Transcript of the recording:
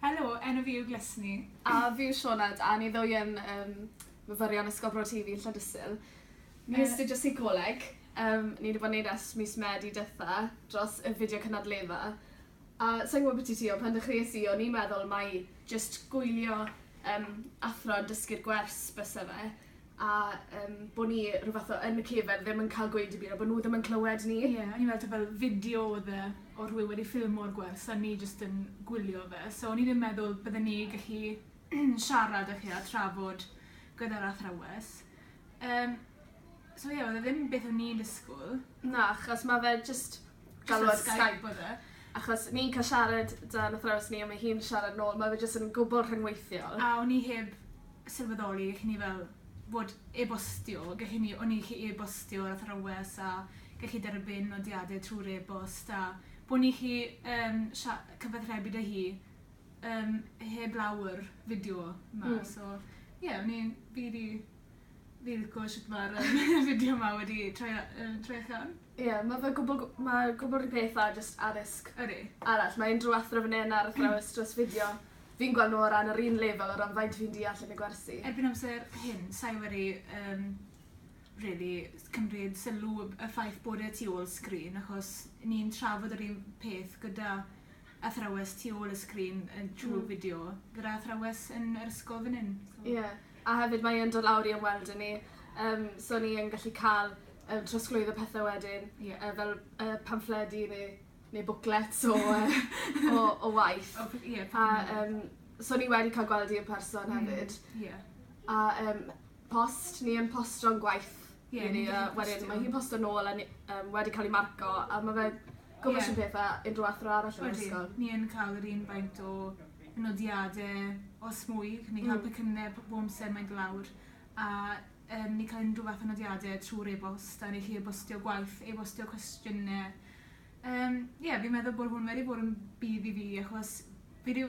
Helo, enw fi yw Glesni. A fi yw Sioned, a ni ddwy yn yym myfyrion Ysgol Bro Tŷ Fi, Llandyssil. Ni'n astudio seicoleg, yym ni 'di bod yn neud e ers mis Medi dwetha, dros y fideo cynadledda. A sai'n gwbo byti ti, ond pan dechreues i o'n i'n meddwl mai jyst gwylio yym athro yn dysgu'r gwers byse fe. a yym bo' ni rhyw fath o yn y cefn ddim yn ca'l gweud dim byd a bo' nw ddim yn clywed ni. Ie o'n i me'wl t'o' fel fideo odd e o rhywun wedi ffilmo'r gwers a ni jyst yn gwylio fe so o'n i ddim meddwl bydden ni gallu siarad â chi a trafod gyda'r athrawes. Yym so ie odd e ddim beth o'n i'n disgwl. Na achos ma' fe jyst galw ar Skype oedd e achos ni'n cael siarad 'da 'n athrawes ni a mae hi'n siarad nôl ma' fe jyst yn gwbwl rhyngweithiol. A o'n i heb sylweddoli gellwn ni fel fod e-bostio gellwn ni o'n i gallu e-bostio yr athrawes a gellu derbyn nodiade trw'r e-bost a bo' ni 'llu yym sia- cyfathrebu 'da hi yym heblaw yr fideo 'ma so ie o'n i'n rili Fi lico shwt ma'r yym fideo 'ma wedi troi a- yy troi allan. Ie ma' fe gwbwl gw- ma' gwbwl 'r peth â jyst addysg... Ydi. ...arall mae unryw athro fyn 'yn ar athrawes dros fideo fi'n gwel' n'w o ran yr un lefel o ran faint fi'n deall yn y gwersi. Erbyn amser hyn sai wedi yym rili cymryd sylw y y ffaith bod e tu ôl sgrin achos ni'n trafod yr un peth gyda athrawes tu ôl y sgrin yn trw'r fideo gyda athrawes yn yr ysgol fyn 'yn so... Ie. A hefyd mae yn dod lawr i ymweld â ni yym so ni yn gallu ca'l yym trosglwyddo pethe wedyn. Ie. Yy fel yy pamffledi ne' ne' bwclets o yy o o waith. O p- ie peth newydd. A yym so ni wedi ca'l gweld 'i yn person hefyd. Hmm ie. A yym post ni yn postio'n gwaith Ie ni a wedyn mae hi'n posto nôl a ni yym wedi ca'l 'i marco a ma' fe gwbo shwd peth a unryw athro arall yn yr ysgol. Odi ni yn ca'l yr un faint o nodiade os mwy ni'n ca'l pecynne p- bob amser mae'n do' lawr a yym ni ca'l unryw fath o nodiade trw'r e-bost a ni 'llu e-bostio gwaith e-bostio cwestiyne yym ie fi'n meddwl bo' hwn wedi bod yn budd i fi achos fi 'di